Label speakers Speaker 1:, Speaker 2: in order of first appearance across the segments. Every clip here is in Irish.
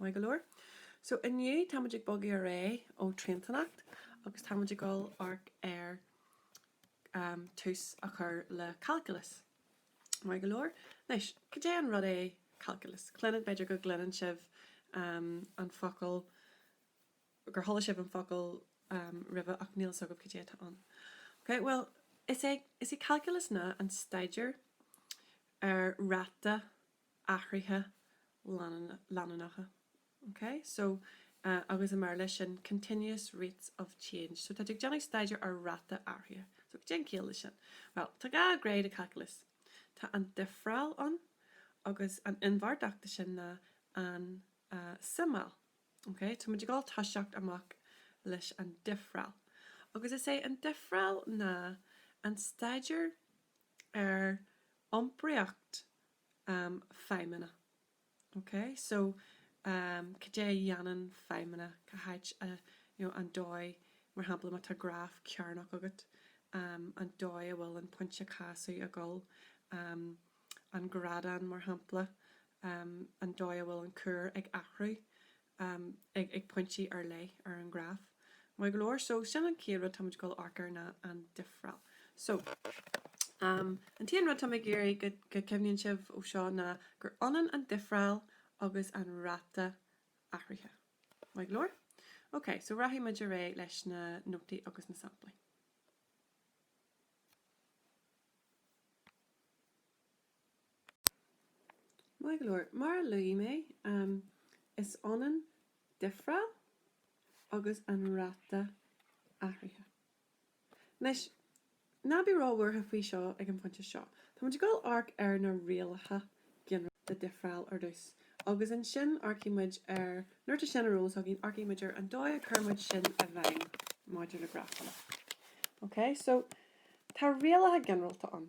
Speaker 1: Maith go leor. So inniu táimid ag bogadh ar aghaidh ó Triantanacht agus táimid ag dul amharc ar tús a chur le Calculus. Maith go leor. Anois, cad é an rud é Calculus? Cluineann, b'fhéidir go gcluineann sibh an focal, gur chuala sibh an focal roimhe ach níl fhios agaibh cad é atá ann. Ok, bhuel, is é, is í Calculus ná an staidéar ar ráta athruithe leanúnacha ok so agus i mBéarla sin continuous rates of change so tá tú ag déanamh staidéar ar ráta athraithe so go dtéann ciall le sin well tá dhá ghné de calculus tá an difreáil ann agus an inbhéartach de sin ná an tsuimeáil ok tá muid ag dul toiseacht amach leis an difreáil agus is é an difreáil ná an staidéar ar iompraíocht feidhmeanna. Ok, so cad é a dhéanann feidhmeanna, cá háit, an dóigh, mar shampla má tá graf cearnach agat, an dóigh a bhfuil an pointe casadh ag dul, an grádán mar shampla, an dóigh a bhfuil an cuar ag athrú, amh ag ag pointí ar leith ar an ghraf. Maith go leor. So sin an chéad rud tá muid ag dul amharc air ná an difreáil. So amh an t-aon rud tá mé ag iarraidh go go cuimhníonn sibh ó seo ná gur ionann an difreáil agus an ráta athraithe. Maith go leor? Ok, so rachaidh muid ar aghaidh leis na nótaí agus na samplaí. Maith go leor. Mar a luaigh mé, is ionann difreáil agus an ráta athraithe. Anois, ná bí róbhuartha faoi seo ag an phointe seo. Táimid ag dul amharc ar na rialacha ginearálta difreála ar dtús, agus ansin amharcfaidh muid ar, nuair atá sin ar eolas againn, amharcfaidh muid ar an dóigh a gcuireann muid sin i bhfeidhm maidir le grafanna. OK, so, tá rialacha ginearálta ann.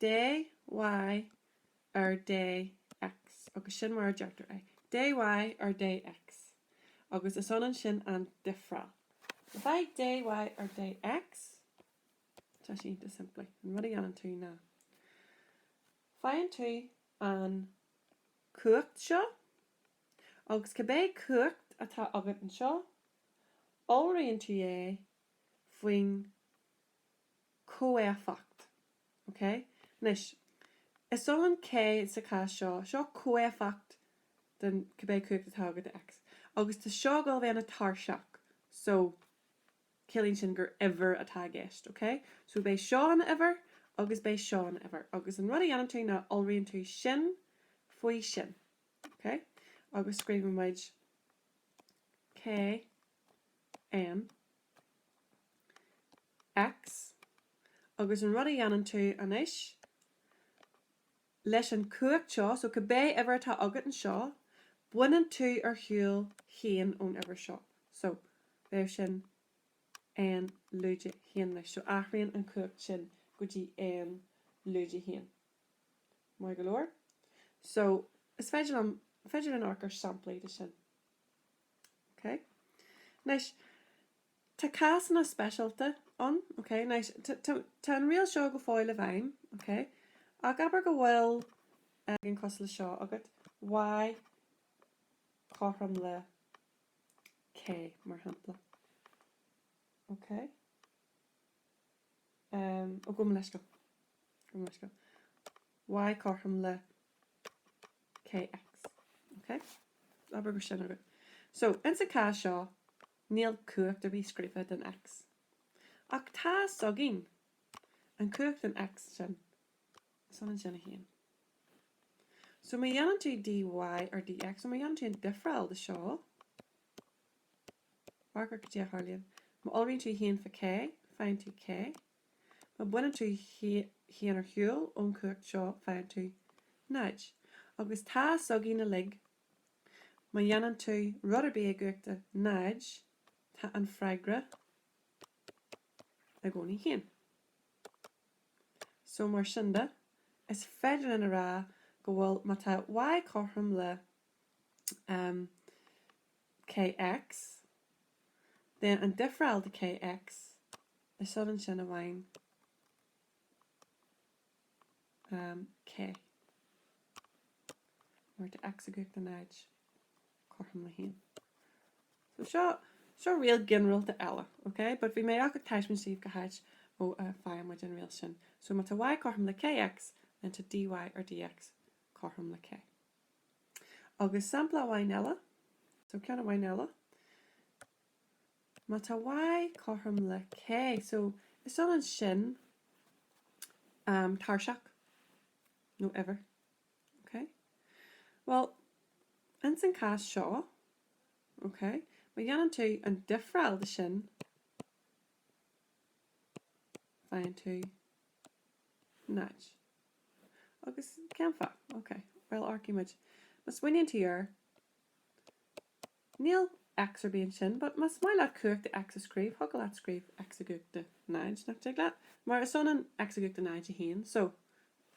Speaker 1: Dy ar Dx, agus sin mar a deirtear é, Dy ar Dx, agus is ionann sin agus an difreáil. Le fáil Dy ar Dx, tá sé iontach simplí. An rud a dhéanann tú ná faigheann tú an chumhacht seo, agus cibé cumhacht atá agat anseo, iolraíonn tú é faoin comhéifeacht. OK? Anois, is ionann K sa chás seo, seo comhéifeacht den, cibé cumhacht atá agat i X, agus tá seo ag dul a bheith ina tairiseach, so ciallaíonn sin gur uimhir atá i gceist. OK? So beidh seo ina uimhir agus beidh seo ina uimhir. Agus an rud a dhéanann tú ná iolraíonn tú sin faoi sin. OK? Agus scríobhann muid KN X, Agus an rud a dhéanann tú anois leis an chumhacht seo, so cibé uimhir atá agat anseo, baineann tú ar shiúl haon ón uimhir seo. So, bheadh sin N lúide haon leis. So, athraíonn an chumhacht sin go dtí N lúide haon. Maith go leor. So, is féi, féidir linn amharc ar samplaí de sin. ok? Anois, tá cásanna speisialta ann, ok? Anois, tá an riail seo go fóill i bhfeidhm, ok? Ach abair go bhfuil ceann cosúil le seo agat, y cothrom le k, mar shampla. Ok? Ó gabh mo leithscéal. Y cothrom le KX. Ok? Abair go sin agat. So, ins an cás seo, níl cumhacht ar bith scríofa don X. Ach tá a fhios againn, An cumhacht don X sin, is ionann sin a haon. So má dhéanann tú dy ar dx, so má dhéanann tú an difreáil de seo, Amharc ar caidé a tharlaíonn. Má iolraíonn tú haon faoi k, faigheann tú k. Má baineann tú haon ar shiúl ón chumhacht seo, faigheann tú náid. Agus tá a fhios againn uilig. Má dhéanann tú rud ar bith i gcumhacht a náid, tá an freagra i gcónaí haon. So mar sin de, is féidir linn a rá go bhfuil má tá y cothrom le, um, kx, then an difreáil de kx, is ionann sin amháin um k mar tá x i gcumhacht a náid cothrom le haon. So seo, seo riail ginearálta eile, ok? But bhí mé ach ag taispeáint daoibh cá háit ó a faigheann muid an riail sin. So má tá y cothrom le kx, then tá dy ar dx cothrom le k. Agus sampla amháin eile, so ceann amháin eile, má tá Y cothrom le K, so is ionann sin um, tairseach nó uimhir. Okay? Well, ins an cás seo, okay, má dhéanann tú an difreáil de sin, faigheann tú 0. Agus cén fáth? Ok. Bhuel, amharcfaidh muid. Má smaoiníonn tú air. Níl X ar bith ansin, but más maith leat cumhacht de X a scríobh, thiocfadh leat scríobh X i gcumhacht de 0, nach dtig leat? Mar is ionann X i gcumhacht de 0 1. So,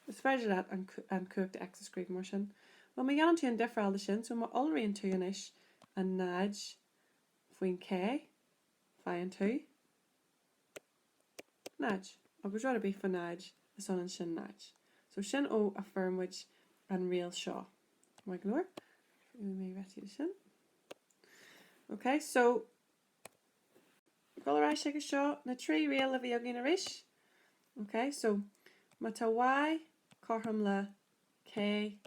Speaker 1: is féidir leat an, an cumhacht de X a scríobh mar sin. Bhuel, má dhéanann tú an difreáil de sin, so má iolraíonn tú anois an 0 faoin K, faigheann tú. 0. Agus rud ar bith fá 0, is ionann sin 0. So sin ó a fuair muid an riail seo. Maith go leor. Faighfidh mé réitithe de sin. Ok, so dul ar ais agus seo na trí riail a bhí againn arís. Ok, so má tá Y cothrom le K,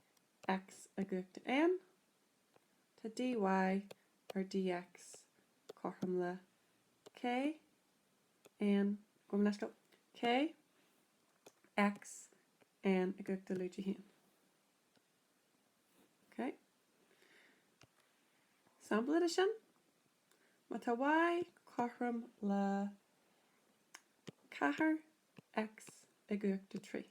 Speaker 1: X i gcumhacht de N, Tá dy ar dx cothrom le K, N, gabh mo leithscéal, K, X, N i gcumhacht de lúide 1. Ok? Sampla de sin? Má tá Y cothrom le 4, X i gcumhacht de 3.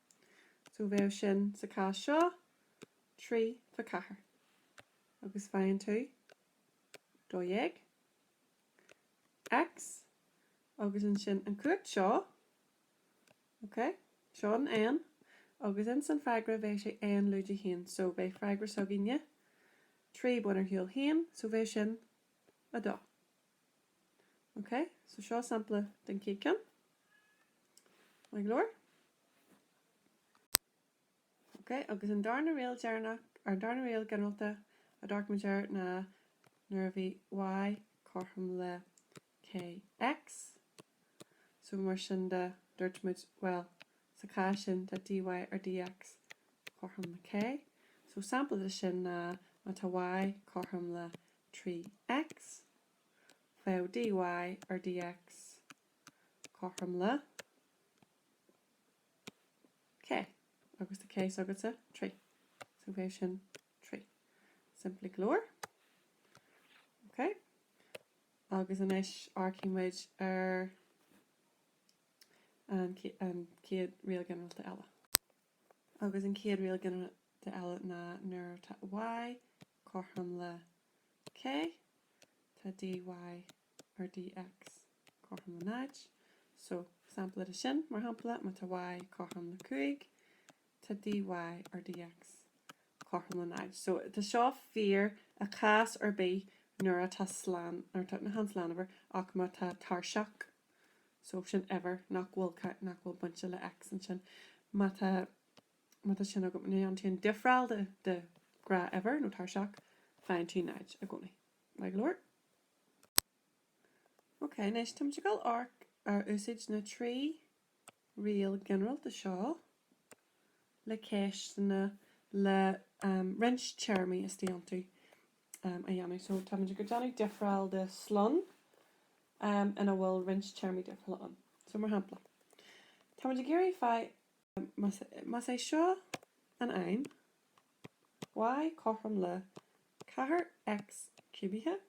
Speaker 1: So bheadh sin sa cás seo, 3 fá 4. Agus faigheann tú 12 X agus ansin an cumhacht seo, ok, seo an N agus ins an freagra bheadh sé N lúide 1, so bheadh freagra s'againne, 3 bain ar shiúl 1, so bheadh sin 2. Ok, so seo sampla den chéad ceann. Maith go leor? Ok, agus an darna riail deireanach, an darna riail ginearalta a d'amharc muid air ná nuair a bhí y cothrom le kx, So mar sin de, dúirt muid, bhuel, sa cás sin, tá dy ar dx cothrom le K. So sampla de sin ná, má tá y cothrom le 3x, bheadh dy ar dx cothrom le K. Agus tá K s'agatsa, 3. So bheadh sin 3. Simplí go leor. Ok. Agus anois amharcfaidh muid ar an chéad riail ginearálta eile. Agus an chéad riail ginearálta eile ná nuair tá y cothrom le k, tá dy ar dx cothrom le 0. So, sampla de sin, mar shampla, má tá y cothrom le 5, Tá dy ar dx cothrom le 0. So tá seo fíor i cás ar bith nuair atá slán, nuair atá, chan slánuimhir ach má tá tairiseach, so sin uimhir nach bhfuil cá, nach bhfuil bainte le X ansin. Má tá, má tá sin agam, níonn tú an difreáil de, de ghnáthuimhir nó tairiseach, faigheann tú 0 i gcónaí. Maith go leor? Ok, anois táimid ag dul amharc ar úsáid na trí. riail ghinearálta seo le ceisteanna le roinnt téarmaí istigh iontu a dhéanamh. So táimid ag déanamh difreáil de slonn ina bhfuil roinnt téarmaí difriúla ann. So mar shampla, táimid ag iarraidh fáil más é seo an fheidhm, y cothrom le ceathair x ciúbaithe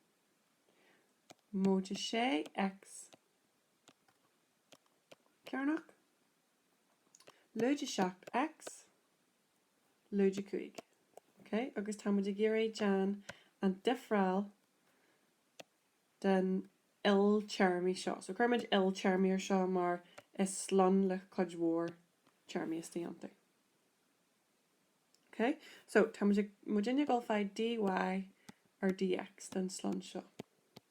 Speaker 1: móide sé x cearnach, lúide 7 X, lúide 5. ok agus tá muid ag iarraidh déan an difreáil den iltéarmaí seo. so cuir muid iltéarmaí ar seo mar is slonn le cuid mhór téarmaí istigh iontu. Ok so tá muidinne ag dul a fháil dy ar dx den slonn seo.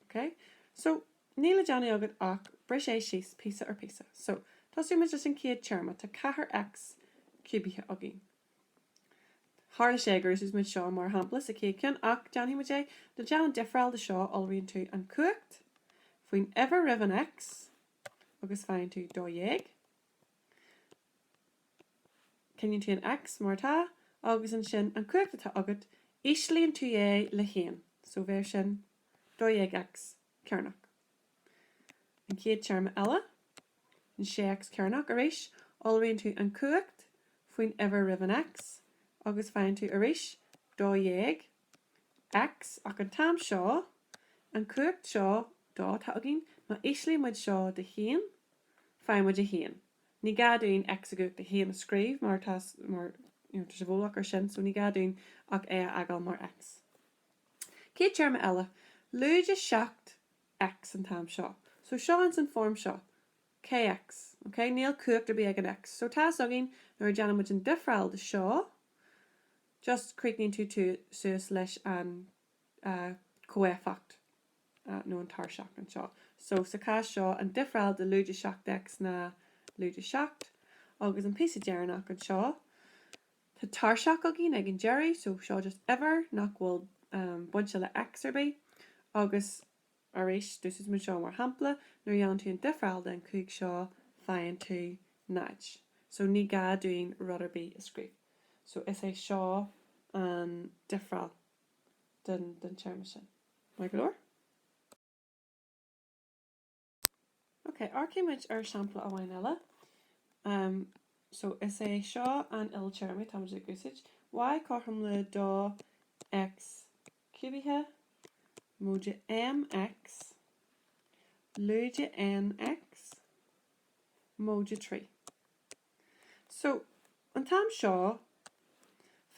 Speaker 1: Ok so níl le déanamh agat ach bris é síos píosa ar píosa. So tosóidh muid leis an chéad téarma, tá ceathair x ciúbaithe againn. Tharla sé gur úsáid muid seo mar shampla sa chéad ceann ach déanfaidh muid é le déanamh difreáil de seo, iolraíonn tú an cumhacht faoin uimhir roimh an x agus faigheann tú 12. Coinníonn tú an X mar atá agus ansin an cumhacht atá agat, íslíonn tú é le haon, so bheir sin, 12X cearnach. An chéad téarma eile, an 6X cearnach, arís, iolraíonn tú an cumhacht faoin uimhir roimh an X agus faigheann tú arís, 12 X, Ach an t-am seo, an cumhacht seo dó atá againn, má íslíonn muid seo de haon, faigheann muid a haon. Ní gá dúinn X i gcumhacht a haon a scríobh mar tá mar, you know, tá sé i bhfolach ar sin so ní gá dúinn ach é a fhágáil mar X. Céad téarma eile, lúide seacht X an t-am seo. So seo ins an form seo, Kx, okay? Níl cumhacht ar bith ag an X. So tá 's againn nuair a déanann muid an difreáil de seo, just chríochnaíonn tú suas leis an chomhéifeacht nó an tairseach anseo. So sa chás seo, an difreáil de lúide 7 X ná lúide 7. Agus an píosa deireanach anseo, tá tairseach againn ag an deireadh, so seo just uimhir nach bhfuil bainte le X ar bith. Agus arís, d'úsáid muid seo mar shampla, nuair a dhéanann tú an difreáil den chúig seo, faigheann tú náid. So ní gá dúinn rud ar bith a scríobh. So is é seo an difreáil den den téarma sin. Maith go leor. Ok, amharcfaidh muid ar shampla amháin eile. Umm, so is é seo an iltéarma tá muid ag úsáid, y cothrom le dó x ciúbaithe, móide mx, lúide nx, móide trí. So, an t-am seo,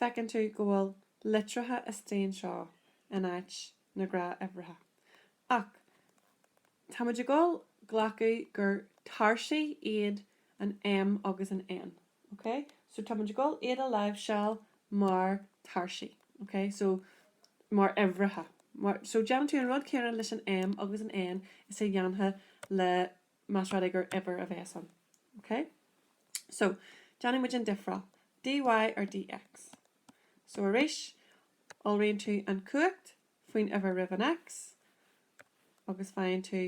Speaker 1: feiceann tú go bhfuil litreacha isteach anseo in áit na gnáthuimhreacha. Ach, táimid ag dul a ghlacadh gur tairsigh iad an M agus an N. ok so tá muid ag dul iad a láimhseáil mar tairsigh ok so mar uimhreacha so déanann tú an rud céanna leis an M agus an N is a dhéanfá le más rud é gur uimhir a bheas ann ok so déanfaidh muid an difreáil dy ar dx so arís iolraíonn tú an chumhacht faoin uimhir roimh an X agus faigheann tú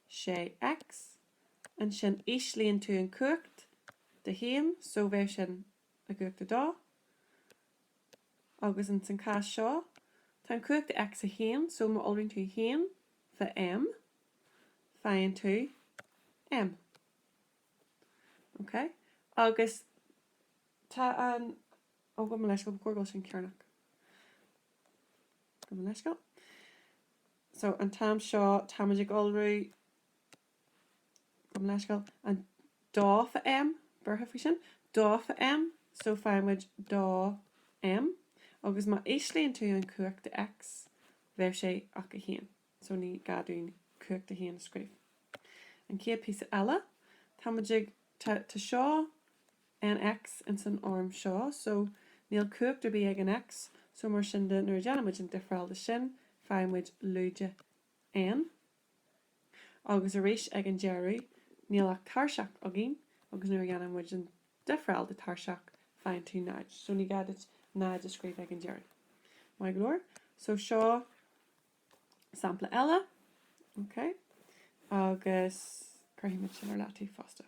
Speaker 1: sé X, ansin íslíonn tú an cumhacht de haon, so bheadh sin an cumhacht a dó, agus ins an cás seo tá an cumhacht de X a haon, so má iolraíonn tú a haon faoi M, faigheann tú M. Ok? Agus tá an, ó, gabh mo leithscéal, ba chóir go bhfuil sin cearnach. Gabh mo leithscéal. So an t-am seo táimid ag iolrú. Gabh mo leithscéal. An dó faoi M curtha faoi sin. Dó faoi M so faighimid dó M agus má íslíonn tú an cumhacht de X ní bheadh sé ach 1. So ní gá dúinn cumhacht 1 a scríobh. An chéad píosa eile táimid ag tá tá seo N X ins an fhoirm seo so níl cumhacht ar bith ag an X so mar sin de nuair a déanaimid an difreáil de sin faighimid lúide N agus arís ag an deireadh níl ach tairseach againn agus nuair a dhéanann muid an difreáil de tairseach faigheann tú 0 so ní gá duit 0 a scríobh ag an deireadh. Maith go leor so seo sampla eile ok agus cuirfimid sin ar leataobh fosta.